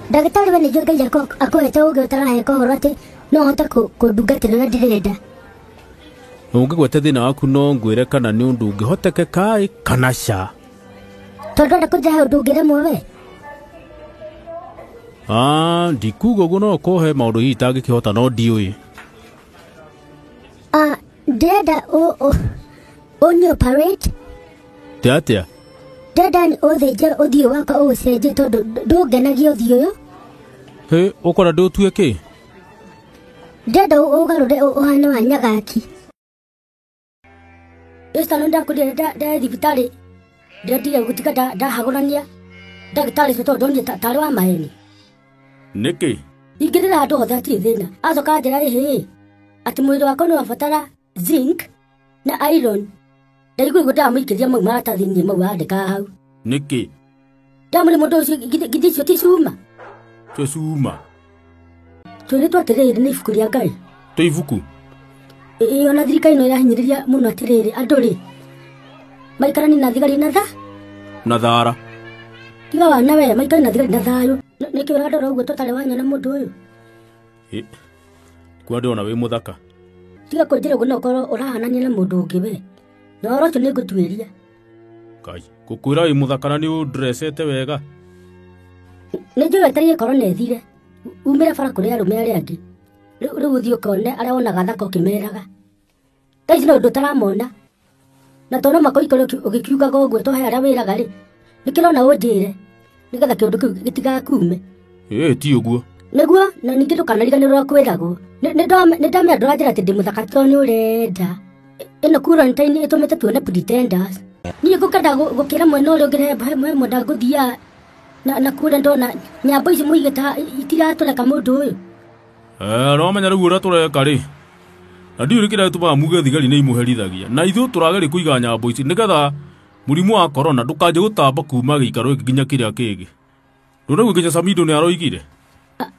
ndagĩtarĩ we nĩguo ngai ako- akwĩte ũgĩ ũtarahe kũhoro atĩ no hote kũ- kũndungatĩra na ndirĩ nda ũngĩgwete thĩna waku no ngwĩre kana nĩ ũndũ ũngĩhotekeka ĩ, kana ca tondũ enda kũnjahe ũndũ ũngĩremwo we Ah, ndikuga ũguo no kũhe maũndũ hihi itangĩkĩhota no ndiũĩ Ah, ndĩrenda ũ- ũ- ũnĩ operate Te atĩa? ndĩrenda nĩ ũthĩnje ũthiũ wakwa ũũcenjie tondũ ndũ- ndũngenagia ũthiũ ũyũ Hĩ, ũkwenda ndĩũtue kĩ? ndĩrenda ũ- ũgarũre ũ- ũhane wa nyagaki ĩcitano ndakũria ndĩ thibitarĩ ndĩrendire gũtiga nda- ndahagũrania ndagĩtarĩ ũcio tondũ ndonire ta- tarĩ wa maheni nĩkĩ ingĩrĩra andũ othe atirĩ thĩna acoka anjĩra rĩhĩ atĩ mwĩrĩ wakwa nĩ wabatara zinc na iron ndaigua igua ndamũikĩria mau maratathi-inĩ mau andĩkaga hau nĩkĩ ndamũrĩ mũndũ ũcio githĩ githĩ icio ti cuma tũcuma twĩrĩtwo atĩrĩrĩ nĩ ibuku rĩa ngai tå ibuku ĩĩ ona thirikari no ĩrahinyĩrĩria mũno atĩrĩrĩ andũ rĩ maikarani na thigari na tha na thara tiga wana we maikari na thigari na thayũ Nĩ- nĩkĩ ũrandora ũguo tũtarĩ wanyona mũndũ ũyũ Ĩ, kuo ndĩrona wĩ må thaka tiga kũnjĩra ũguo no ũkorwo ũrahanania na mũndũ ũngĩ we na ũhoro ũcio nĩ ngũtuĩria kai gå kwä ra wä må thaka na nä å ndrecete wega nĩ njũĩ atariĩ korwo nethire umĩra bara kũrĩ arũme arĩa angĩ Rĩu rĩu ũthiĩ ũkone arĩa wonaga thaka ũkĩmeraga. Thaa ici no ũndũ ũtaramona. Na to no mũhaka ũikore ũki- ũgĩkiugaga ũguo to he arĩa wĩraga rĩ. Nĩkĩrona ũnjĩre nĩgetha kĩũndũ kĩu gĩtigakuume. ĩĩ ti ũguo Nĩguo na ningĩ ndũkanariganĩrwo kwĩragwo. Nĩ- nĩndame- Nĩndamenya ndũranjĩra atĩ ndĩ mũthaka to nĩ ũrenda. Ĩ- Ĩno kura nĩ ta ĩtũmĩte tuone pretenders. Niĩ ngũkenda gũ- gũkĩra mwena ũrĩa ũngĩ he mwenda ngũthiaga na na kure ndona nyambo ici muige ta itiratũreka mũndũ ũyũ Eh, no menya rĩu ũrĩa tũreka rĩ na ndiũrĩ kĩrĩa gĩtũmaga muge thigari nĩ imũherithagia na ithuĩ tũrageria kũiga nyambo ici nĩgetha mũrimũ wa korona ndũkanjie gũtamba kuma gĩikaro gĩkĩ nginya kĩrĩa kĩngĩ ndũnaigua nginya samido nĩ aroigire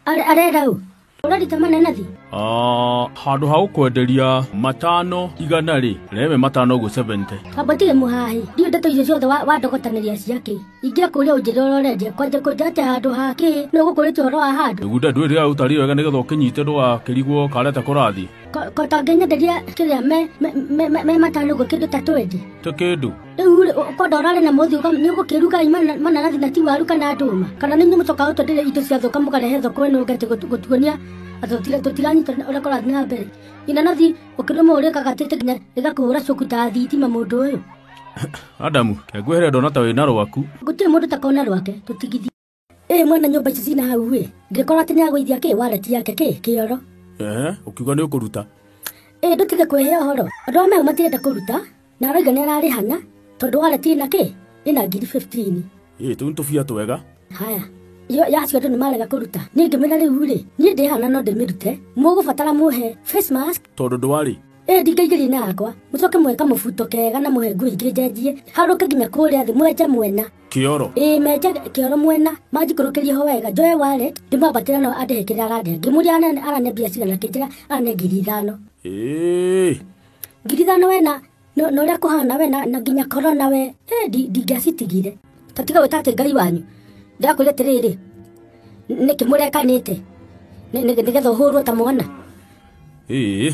arerau ũrarita manena thi Ah, handå ha gå kwenderia matano igana rä reme matano å guo 70 amba tige mũhahi ndiũ ndeto icio ciothe wa- wandogotanĩria ciakĩ ingĩa kũrĩa ũnjĩra ũrorenje kwanja kũnja atĩ handũ hakĩ nĩ ũgũkũrĩtie ũhoro wa handũ iguda ndwä rä a å tari wega nä getha å kä nyite ndå gakä rigwo kareta kå rathiä Ko- ko tangĩnyenderia kĩrĩa me- me- me- me- me matano ũguo kĩndũ ta twendi tä kä ndå rĩu rĩ ũkonda ũrarĩ na mũthi ũka- nĩ ũgũkĩruga mana- mananathi na ti waru kana ndũma kana nĩ inyuĩ mũcokaga ũtwendere indo cia thũka mũkarehe thoko ĩno ngati gũtuonia atĩ tũtira- tũtiranyita ũrĩa kũrathiĩ na mbere inanathi ũkĩrũma ũrĩkaga atĩte nginya rĩgakũhũra cuku ta thitima mũndũ ũyũ adamu ngwĩhere ndona ta wĩna rwaku gũtirĩ mũndũ takona rwake tũtigithie ĩ mwene nyũmba ici cina hau ĩ ndĩkora atĩ nĩagũithia kĩ wareti yake kĩ kĩoro ehe ũkiuga nĩ ũkũruta ĩ ndũtige kwehe ũhoro andũ a mehu matirenda kũruta na aroiga nĩ ararĩhana tondũ wareti ĩna kĩ ĩna ngiri 15 ĩ tũu nĩ tũbia twega haya iyo yacio andũ nĩ marega kũruta niĩ ngĩmwĩra rĩu rĩ niĩ ndĩhana no ndĩmĩrute mũgũbatara mũhe face mask tondũ ndwarĩ ĩ ndingaigĩria na yakwa mũcoke mweka mũbuto kega na mũhe nguo ingĩ njenjie harũke nginya kũrĩa thĩ mwenja mwena Kĩoro. Ĩĩ menje kĩoro mwena manjikũrũkĩrie ho wega njoe wallet ndĩmwambatĩra no andĩhe kĩrĩa arandĩhe ngĩmũria anene arane mbia cigana kĩnjĩra arane ngiri ithano Ĩĩ. ngiri ithano wena no no ũrĩa kũhana wena na nginya korona we Eh, ndi- ndingĩacitigire ta tiga gwĩta atĩ ngai wanyu ndĩrakwĩra atĩrĩrĩ nĩkĩ mũrekanĩte Nĩ- nĩ- nĩgetha ũhũrwo ta mwana Ĩĩ.